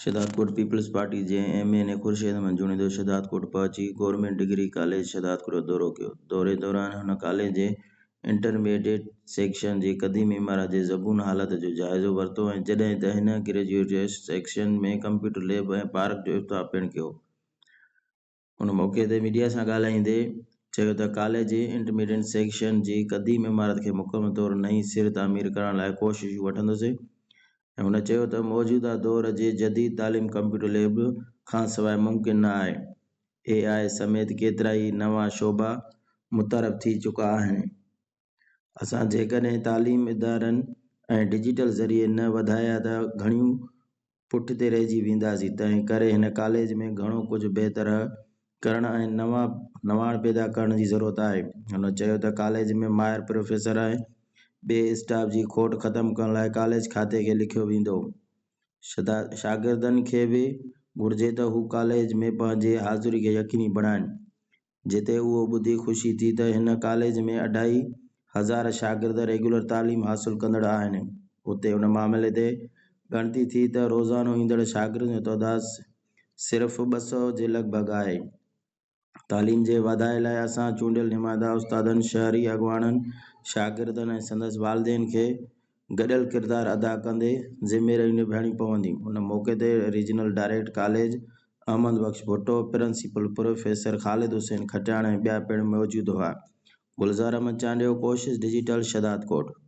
شھدادڪوٽ، پيپلز پارٽي جي M N A Khurshid Ahmed Junejo Shahdadkot پهچي government degree college Shahdadkot جو دورو ڪيو، دوري دوران هن ڪاليج جي انٽرميڊيٽ سيڪشن جي قديم عمارت جي زبون حالت جو جائزو ورتو ۽ جڏهن ته هن graduate section ۾ computer lab ۽ park جو افتتاح پڻ ڪيو. ان موقعي تي ميڊيا سان ڳالهائيندي چيو ته ڪاليج جي انٽرميڊينٽ سيڪشن جي قديم عمارت کي مڪمل طور نئين سر تعمير ڪرڻ لاء ڪوششون وٺندسين ۽ هن چيو ته موجوده دور جي جديد تعليم ڪمپيوٽر ليب کانسواء ممڪن نه آهي اي آء سميت ڪيترائي نوان شعبا متعارف ٿي چڪا آهن اسان جيڪڏهن تعليم ادارن ۽ ڊجيٽل ذريعي نه وڌايا ته گهڻيون پٺتي رهجي وينداسين تنهن ڪري هن ڪاليج ۾ گهڻو ڪجهه بهتره ڪرڻ ۽ نوان نواڻ پيدا ڪرڻ جي ضرورت آهي هن چيو ته ڪاليج ۾ ماهر پروفيسر ۽ ٻئي اسٽاف جي کوٽ ختم ڪرڻ لاء ڪاليج کاتي کي لکيو ويندو شاگردن کي به گهرجي ته هو ڪاليج ۾ پنهنجي حاضري کي يقيني بڻائين جتي اهو ٻڌي خوشي ٿي ته هن ڪاليج ۾ اڍائي هزار شاگرد ريگيولر تعليم حاصل ڪندڙ آهن. اتي ان معاملي تي ڳڻتي ٿي ته روزانو ايندڙ شاگردن جو تعداد صرف ٻه سؤ جي لڳ ڀڳ آهي. تعليم جي واڌاري لاء اسان چونڊيل نمائندا استادن، شهري اڳواڻن، شاگردن ۽ سندس والدين کي گڏيل ڪردار ادا ڪندي ذميريون نڀائڻيون پونديون. ان موقعي تي regional direct college Ahmed Bux Bhutto, principal professor Khalid Hussain Khatian ۽ ٻيا پڻ موجود هئا. گلزار احمد چانڊيو، ڪوشش ڊجيٽل، شھدادڪوٽ.